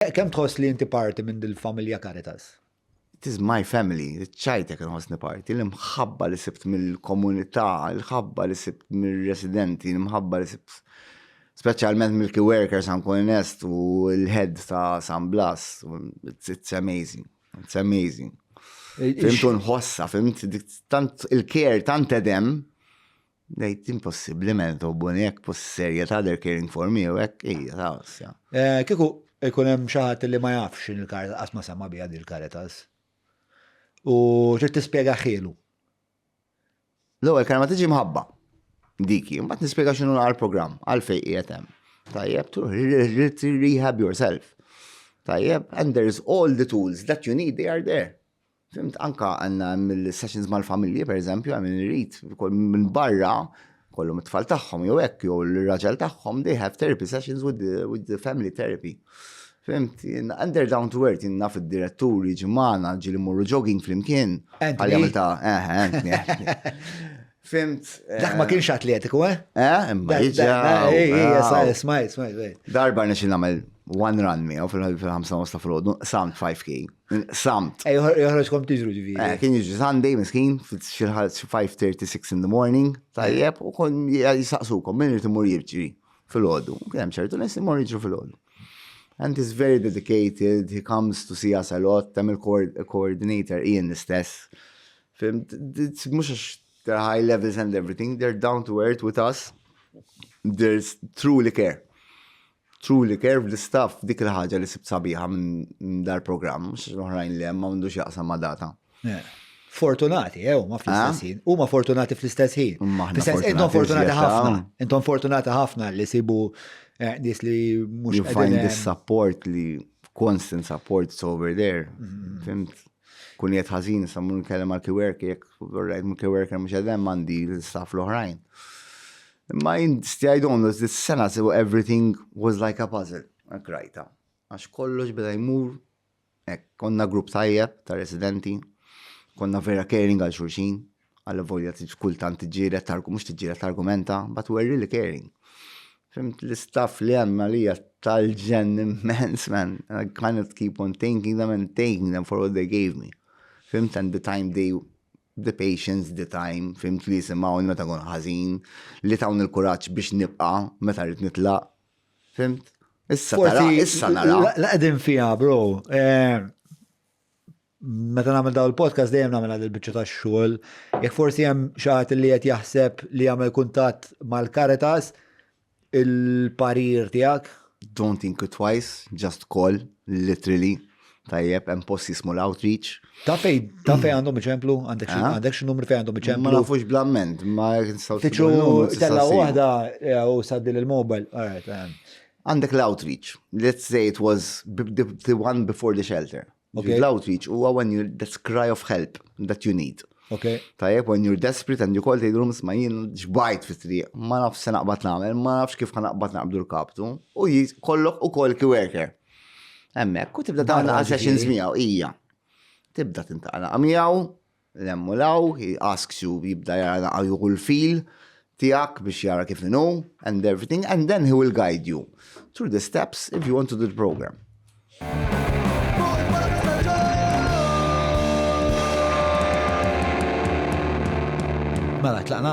Kemm tħoss li inti parti minn dil-familja Caritas? It is my family, ċajtek inħossni parti, l-imħabba li sibt mill-komunità, l-ħabba li sibt mill-residenti, l-imħabba li sibt specialment mill-key workers għan konest u l-head ta' San Blas, it's, it's amazing, it's amazing. Fimtu nħossa, fimt tant il-care, tant edem, Nejt impossibli men tobbuni jek pus serja ta' they're caring for me u jek ija ta' osja. Eh, kiku ikun hemm xi ħadd li ma jafx in il-Caritas qatt ma sema' biha din il-Caritas. U trid tispjega ħielu. L-ewwel kelma tiġi mħabba. Dik hi, mbagħad nispjega x'inhu għal programm għalfejn qiegħed hemm. Tajjeb, to rehab yourself. Tajjeb, and there is all the tools that you need, they are there. Fimt, anka għanna mill-sessions mal-familji, per eżempju, għamil irrit, minn barra, kollu mit-tfal tagħhom jew hekk jew l-raġel tagħhom, they have therapy sessions with the, with the family therapy. Fimt, and they're down to earth, naf id-diretturi ġimana, ġili morru jogging flimkien. Għalli għamil ta' eħe, eh, eh, eh, Fimt. Dak ma eh, kienx atletiku, eh? Eh, imma jiġa. Smajt, smajt, Darba nixin namel one run mi, u fil-5 ta' frodu, samt 5k. Samt. Ej, eh, joħroġ kom tiġru ġivi. Eh, kien jiġi Sunday, miskin, fil-5.36 in the morning, tajjeb, u kon jisaqsukom, minn rrit imur jirġri fil-ħodu. Kien ċertu nis imur jirġru fil-ħodu. And he's very dedicated, he comes to see us a lot, tam il-coordinator, Ian l-istess Fimt, mux għax they're high levels and everything, they're down to earth with us, there's truly care. Truly care fl-istaff dik il-ħagġa li sibt sabiħa minn dar program, mux oħrajn li ma mundux jaqsam ma data. Eh, fortunati, ew, eh, ma fl-istess eh? ħin. U ma fortunati fl-istess ħin. Intom fortunati ħafna. Intom fortunati ħafna li sibu nis li mux. You find the support li constant support over there. Mm-hmm. Fimt? Kun jgħid ħażin issa mmur nkellem għal kiwerki jekk vorrejt minn kiwerker mhux qed hemm għandi l-istaff l-oħrajn. Imma jien stjaj donnu this sena sew everything was like a puzzle, hekk rajta. Għax kollox beda jmur hekk konna grupp tajjeb ta' residenti, konna vera caring għal xulxin, Alla volja kultant tiġġieled targu mhux tiġġieled argumenta, but we're really caring. Fimt l-istaff li hemm għalija tal-ġen immens, man. I kind of keep on thanking them and thanking them for what they gave me. Fimt and the time they the patience, the time, fimt li jisimaw meta kun ħażin, li tawn il-kuraġġ biex nibqa' meta rrid nitlaq. Fimt? Issa nara, issa nara. Laqdin fija, bro. Eh, Meta nagħmel daw il-podcast dejjem nagħmel għal il-biċċa tax-xogħol. Jekk forsi hemm xi ħadd li qed jaħseb li jagħmel kuntatt mal-Caritas, il-parir tiegħek? Don't think it twice, just call, literally. Tajjeb, hemm post jismu l-outreach. Ta' fej, ta' fej għandhom iċemplu, għandek xi- Ah. għandek xi numru fej għandhom Ma iċemplu. nafux blamment, ma nistgħu Tiċu tella waħda eh, u saddil il-mobile. All right, eh. Għandek l-outreach. Let's say it was b- the, the one before the shelter. Okay. L-outreach huwa when you that's cry of help that you need. Okay. Tajjeb, when you're desperate and you call the rooms ma jien ġbajt fit triq ma nafx se naqbad nagħmel, ma nafx kif naqbad naqbdu l-kaptu, u kollok u koll ki worker. Hemmhekk, u tibda tagħmel għal sessions miegħu hija. Tibda tintaqla miegħu, 'l hemm u 'l hawn, he asks you jibda jara naqa' juhu l-fil tiegħek biex jara kif inhu and everything and then he will guide you through the steps if you want to do the programme. Mela tlaqna?